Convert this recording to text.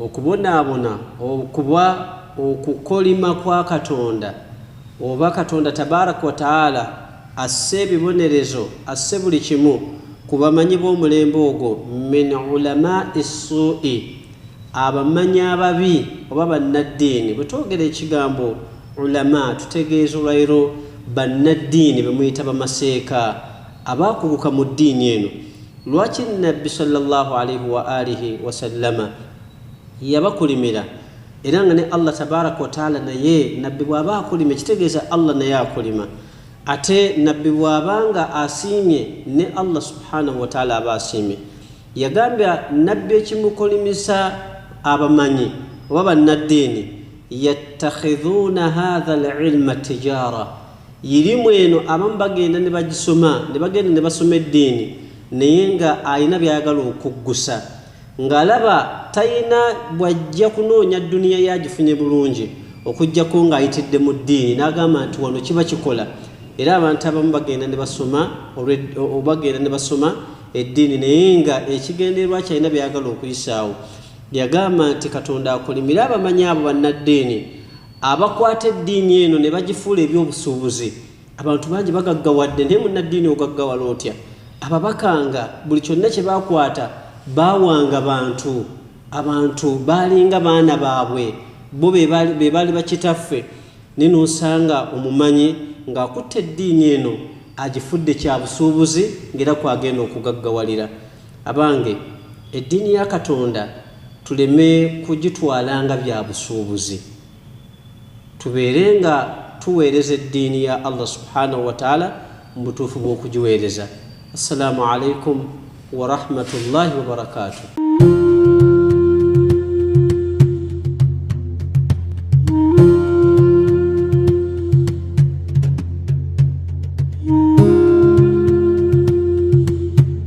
Okubonaabona okuba okukolima kwa Katonda oba Katonda Tabarak wa Taala asse ebibonerezo, asse buli kimu ku bamanyi b'omulembe ogwo, min ulamaai ssuu'i, abamanyi ababi oba bannaddiini. Bwe twogera ekigambo ulamaa tutegeeza olwairo bannaddiini be muyita bamaseeka abaakuguka mu ddiini eno. Lwaki Nabbi swalla Llaahu alaihi wa aalihi wasallama yabakolimira era nga ne Allah tabaaraka wa taala naye Nabbi bw'aba akolima ekitegeeza Allah naye akolima ate Nabbi bw'aba nga asiimye ne Allah subhaanahu wa taala aba asiimye. Yagambya Nabbi ekimukolimisa abamanyi oba bannaddiini yattakhidhuuna haadha al-ilma tijaara Yirimu eno abamu bagenda ne bagisoma ne bagenda ne basoma eddiini naye nga alina byayagala okuggusa ng'alaba talina bw'ajja kunoonya dduniya yagifunye bulungi okuggyako ng'ayitidde mu ddiini n'agamba nti wano kiba kikola era abantu abamu bagenda ne basoma bagenda ne basoma eddiini naye nga ekigendererwa kyalina byayagala okuyisaawo yagamba nti katonda akolimire abamanyi abo bannaddiini abakwata eddiini eno ne bagifuula ebyobusuubuzi abantu bangi bagaggawadde naye munnaddiini ogaggawala otya ababaka nga buli kyonna kye bakwata baawanga bantu abantu baalinga baana baabwe bo be baali bakitaffe naye noosanga omumanyi ng'akutte eddiini eno agifudde kya busuubuzi ng'era kwagenda okugaggawalira Abange, eddiini ya Katonda tuleme kugitwala nga bya busuubuzi, tubeere nga tuweereza eddiini ya Allah Subhaanahu wa Ta'aala mu butuufu bw'okugiweereza. Assalaamu Alaikum wa Rahmatullahi wa Barakaatuh.